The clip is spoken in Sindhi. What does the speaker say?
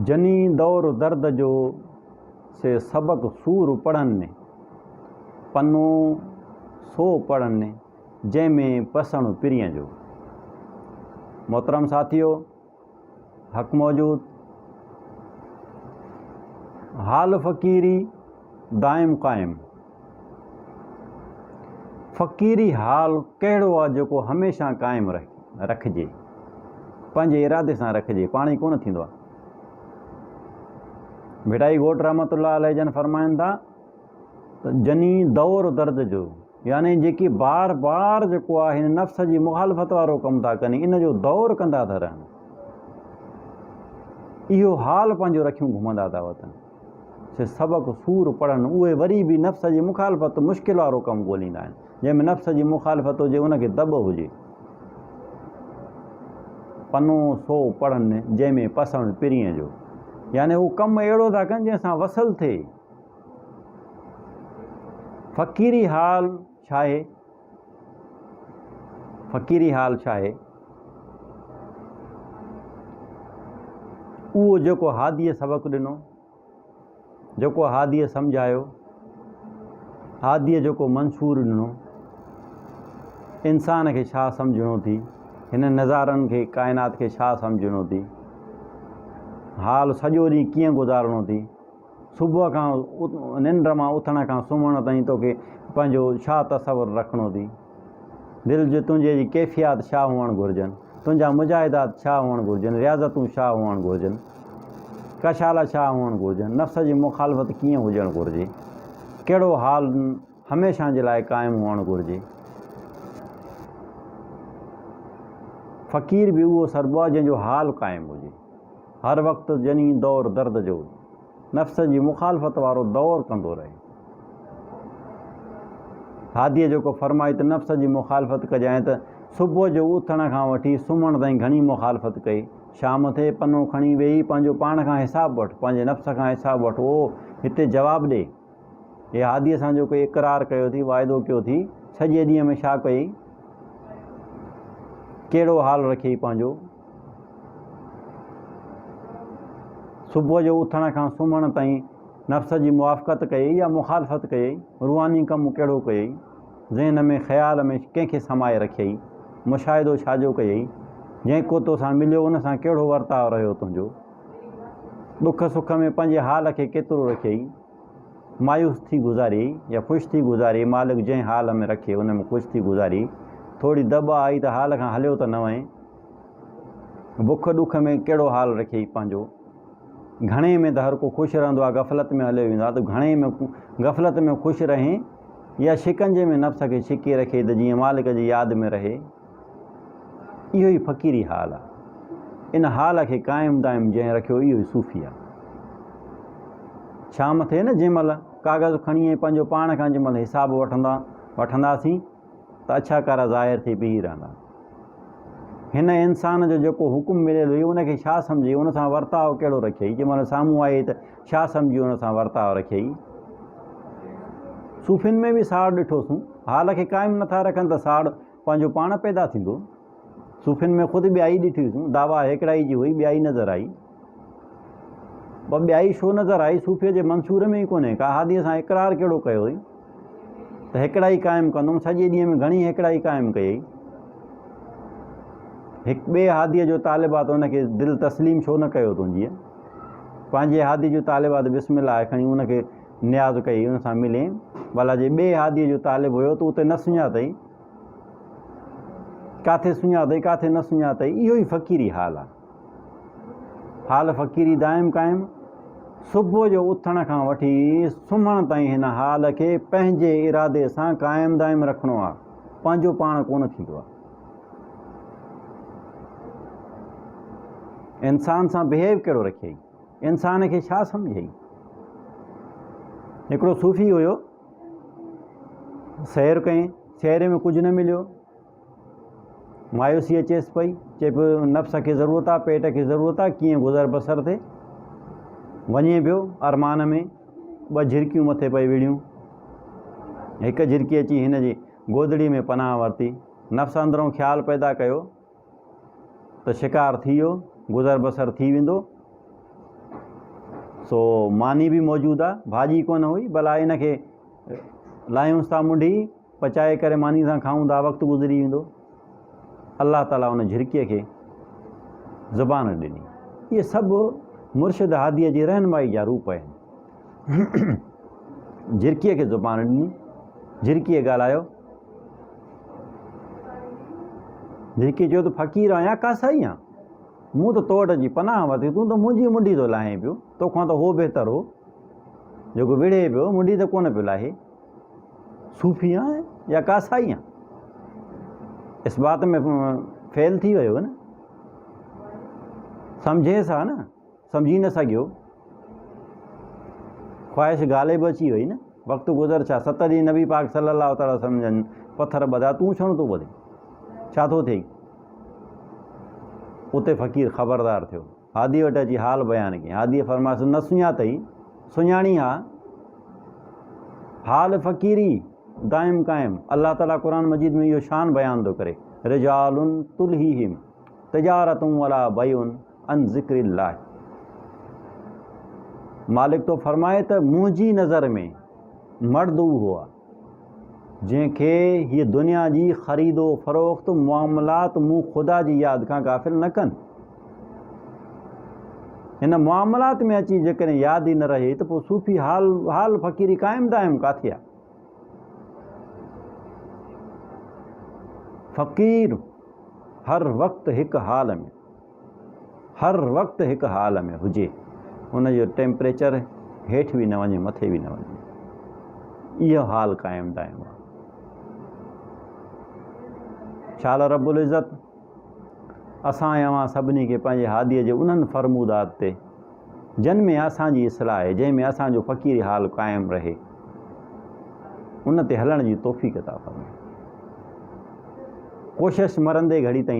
جني دور درد جو سي سبق سور پڙهن ني، پنو سو پڙهن ني جنهن ۾ پسڻ پرين جو. محترم ساٿيو، حق موجود، حال فقيري دائم قائم. فقيري حال ڪهڙو آ جيڪو هميشه قائم رکجي. پنهنجي ارادي سان رکجي پاڻ ئي ڪونه ٿيندو آ. ڀٽائي گهوٽ رحمة الله عليه جن فرمائن ٿا ته جني دور درد جو يعني جيڪي بار بار جيڪو آ هن نفس جي مخالفت وارو ڪم ٿا ڪن ان جو دور ڪندا ٿا رهن اهو حال پنهنجو رکيون گهمندا ٿا وتن. سي سبق سور پڙهن، اهي وري به نفس جي مخالفت مشڪل وارو ڪم ڳوليندا آهن، جنهن ۾ نفس جي مخالفت هجي ان کي دٻ هجي. پنو سو پڙهن جنهن ۾ پسڻ پرينء جو يعني هو ڪم اهڙو ٿا ڪن جنهن سان وصل ٿئي. فقيري حال ڇاهي فقيري حال ڇاهي اهو جيڪو هاديء سبق ڏنو جيڪو هاديء سمجهايو هاديء جيڪو منصور ڏنو انسان کي ڇا سمجهڻو ٿي هن نظارن کي ڪائنات کي ڇا سمجهڻو ٿي حال سڄو ڏينهن ڪيئن گذارڻو ٿي صبح کان ننڊ مان اٿڻ کان سمهڻ تائين توکي پنهنجو ڇا تصور رکڻو ٿي؟ دل جي تنهنجي جي ڪيفيات ڇا هئڻ گهرجن؟ تنهنجا مجاهدات ڇا هئڻ گهرجن؟ رياضتون ڇا هئڻ گهرجن؟ ڪشالا ڇا هئڻ گهرجن؟ نفس جي مخالفت ڪيئن هجڻ گهرجي؟ ڪهڙو حال هميشه جي لاء قائم هئڻ گهرجي؟ فقير به اهو سربو آهي جنهن جو حال قائم هجي. هر وقت جنين دور درد جو نفس جي مخالفت وارو دور ڪندو رهي. هاديء جيڪو فرمائي ته نفس جي مخالفت ڪجانء ته صبح جو اٿڻ کان وٺي سمهڻ تائين گهڻي مخالفت ڪئي. شام ٿئي، پنو کڻي ويهي پنهنجو پاڻ کان حساب وٺ، پنهنجي نفس کان حساب وٺ، اهو هتي جواب ڏئي. هي هاديء سان جو ڪوئي اقرار ڪيو ٿي، واعدو ڪيو ٿي، ڇڄي ڏينهن ۾ ڇا ڪيئي، ڪهڙو حال رکيئي پنهنجو. صبح جو اٿڻ کان سمهڻ تائين نفس جي موافقت ڪيئي يا مخالفت ڪيئي، روحاني ڪم ڪهڙو ڪيئي، ذهن ۾ خيال ۾ ڪنهن کي سمائي رکيئي، مشاهدو ڇا جو ڪيئي، جنهن ڪو توسان مليو ان سان ڪهڙو ورتاء رهيو تنهنجو. ڏک سک ۾ پنهنجي حال کي ڪيترو رکيئي، مايوس ٿي گذاريئي يا خوش ٿي گذاريئي، مالڪ جنهن حال ۾ رکي ان ۾ خوش ٿي گذاريئي، ٿوري دٻ آئي ته حال کان هليو ته نه وئين، بک ڏک ۾ ڪهڙو حال رکيئي پنهنجو، گهڻي ۾ ته هر ڪو خوش رهندو آهي، غفلت ۾ هليو ويندو آهي ته گهڻي ۾ غفلت ۾ خوش رهين يا شڪنجي ۾ نفس کي ڇڪي رکيئي ته جيئن مالڪ جي ياد ۾ رهي. اهو ئي فقيري حال آ. ان حال کي قائم دائم جنهن رکيو اهو ئي صوفي آ. شام ٿئي نه جنهن مهل ڪاغذ کڻي ۽ پنهنجو پاڻ کان جنهن مهل حساب وٺندا وٺنداسين ته اڇا ڪارا ظاهر ٿي بيهي رهندا. هن انسان جو جيڪو حڪم مليل هئي ان کي ڇا سمجهي ان سان ورتاء ڪهڙو رکيئي جنهن مهل سامهون آيئي ته ڇا سمجهي ان سان ورتاء رکيئي. صوفين ۾ به ساڙ ڏٺوسون. حال کي قائم نٿا رکن ته ساڙ پنهنجو پاڻ پيدا ٿيندو. صوفين ۾ خود ٻيائي ڏٺي هيسون. دعويٰ هيڪڙائي جي هئي، ٻيائي نظر آئي. پر ٻيائي ڇو نظر آئي، صوفيء جي منصور ۾ ئي ڪونهي. ڪا هاديء سان اقرار ڪهڙو ڪيو هئي ته هيڪڙائي قائم ڪندم، سڄي ڏينهن ۾ گهڻي هيڪڙائي قائم ڪيئي. هڪ ٻئي هاديء جو طالب آ ته ان کي دل تسليم ڇو نه ڪيو تنهنجيء. پنهنجي هاديء جو طالب آ ته بسم الله آهي کڻي ان کي. نياز ڪئي، ان سان ملين، ڀلا جي ٻئي هاديء جو طالب هيو ته اتي نه سڃاتئي، ڪاٿي سڃاتئي، ڪاٿي نه سڃاتئي، اهو ئي فقيري حال آ. حال فقيري دائم قائم. صبح جو اٿڻ کان وٺي سمهڻ تائين هن حال کي پنهنجي ارادي سان قائم دائم رکڻو آ، پنهنجو پاڻ ڪونه ٿيندو آ. انسان سان بهيو ڪهڙو رکيئي؟ انسان کي ڇا سمجهين؟ هڪڙو صوفي هيو، سير ڪئين، سير ۾ ڪجهه نه مليو، مايوسي اچيس پئي، چئي پيو نفس کي ضرورت آ، پيٽ کي ضرورت آ، ڪيئن گذر بسر ٿئي، وڃي پيو ارمان ۾ ٻه جهرڪيون مٿي پئي وڙهيون، هڪ جهرڪي اچي هن جي گودڙي ۾ پناهه ورتي، نفس اندرون خيال پيدا ڪيو ته شڪار ٿي ويو، گذر بسر ٿي ويندو، سو ماني به موجود آ، ڀاڄي ڪونه هئي، ڀلا ان کي لاهيونس ٿا منڍي، پچائي ڪري ماني سان کائون ٿا، وقت گذري ويندو. الله تعاليٰ ان جھرڪيء کي زبان ڏني. اهي سڀ مرشد هاديء جي رهنمائي جا روپ آهن. جھرڪيء کي زبان ڏني، جھرڪيء ڳالهايو. جيڪي چيو ته فقير آهيان يا ڪاسائي آهيان مون ته تو وٽ اچي پناهه ورتي تون ته منهنجي منڊي ٿو لاهين پيو توکان ته هو بهتر هو جيڪو وڙهي پيو منڊي ته ڪونه پيو لاهي صوفي آهيان يا ڪاسائي آهيان اس بات ۾ فيل ٿي ويو نه سمجهيس ها نه سمجهي نه سگهيو، خواهش غالب اچي وئي نه، وقت گذر ڇا، ست ڏينهن نبي پاڪ صلّي الله تعالٰي وسلّم جن پٿر ٻڌا، تون ڇونه ٿو ٻڌين، ڇا ٿو ٿئي؟ اتي فقير خبردار ٿيو، هادي وٽ اچي حال بيان ڪيائين، هاديء فرمايس، نه سڃاتئي، سڃاڻين ها، حال فقيري دائم قائم، الله تعالٰي قرآن مجيد ۾ اهو شان بيان ٿو ڪري، رجال تلهيهم تجارة ولا بيع. عن ذڪر الله مالڪ ٿو فرمائي ته منهنجي نظر ۾ مرد اهو هو جنهن کي هيء دنيا جي خريد و فروخت معاملات مون خدا جي ياد کان غافل نه ڪن هن معاملات ۾ اچي جيڪڏهن ياد ئي نه رهي ته پوء صوفي حال حال فقيري قائم دائم ڪاٿي آ فقير هر وقت هڪ حال ۾ هر وقت هڪ حال ۾ هجي ان جو ٽيمپريچر هيٺ به نه وڃي مٿي به نه وڃي اهو حال قائم دائم آهي شال رب العزت اسان ۽ اوهان سڀني کي پنهنجي هاديء جي انهن فرمودات تي جن ۾ اسان جي اصلاح آهي جنهن ۾ اسان جو فقيري حال قائم رهي ان تي هلڻ جي توفيق عطا فرمائي ڪوشش مرندي گهڙي تائين